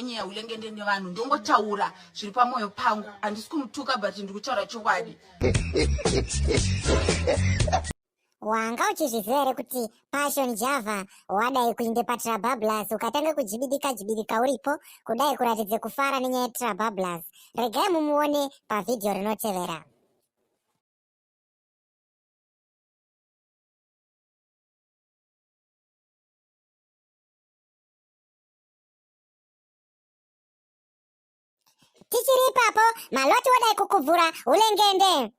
nyeya ulengende nevanhu ndongotaura zviri pamwoyo pangu handisi kumutuka but ndikutaura chokwadi wanga uchizviziva here kuti passion java wadai kuinde patrabablas ukatanga kujibidika jibidika uripo kudai kuratidze kufara nenyaya yetrabablas regai mumuone pavhidhiyo rinotevera tichiri ipapo maloti wadai kukuvhura ulengende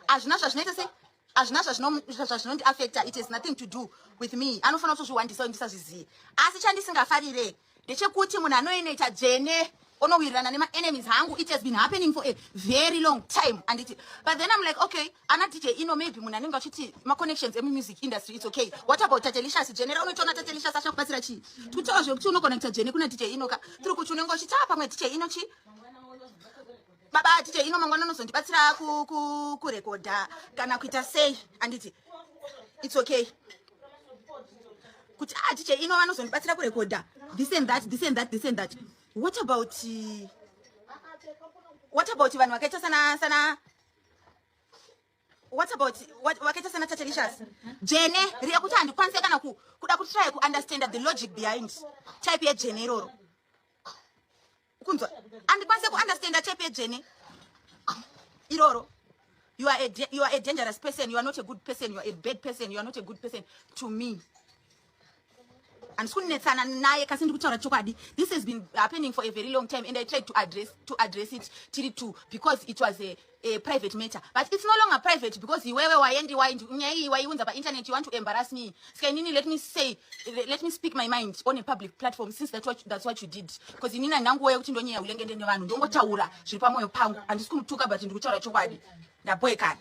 hazvina zvazvinoita sei hazvina zvazvinondi affecta it has nothing to do with me anofanira kutozviwandisa ndisazvizivi asi chandisingafarire ndechekuti munhu anoinoita dzvene onowirirana nema enemies hangu it has been happening for a very long time anditi but then i'm like okay ana dj ino maybe munhu anenge achiti maconnections emumusic industry it's okay what about tatelicious jenera unotoona tatelicious achakubatsira chii tikutaura zvekuti unoconnecta jene kuna dj ino ka tiri kuti unenge uchiti a ah, pamwe dj ino chii baba atite ino mangwana unozondibatsira kurekodha kana kuita sei anditi its okay kuti atite ino vanozondibatsira kurekodha this and that this and that this and that what about what about vanhu vakaita sana sana what about wakaita sana tatelicious jene riya kuti handikwanise kana kuda kutraya kuunderstanda the logic behind type yejene iroro kunzwa andikwanise kuunderstanda chepe dzvene iroro you are, a, you are a dangerous person you are not a good person you are a bad person you are not a good person to me handisi kunetsana naye kasi ndiri kutaura chokwadi this has been happening for a very long time and i tried to address, to address it tiri two because it was a a private matter but it's no longer private because iwewe waendi waendi nyaya iyi waiunza painternet you want to embarrass me ska inini let me say let me speak my mind on a public platform since that what, that's what you did because inini andanguwa yekuti ndonyaya ulengende nevanhu ndongotaura zviri pamwoyo pangu handisi kumutuka but ndiri kutaura chokwadi ndaboekana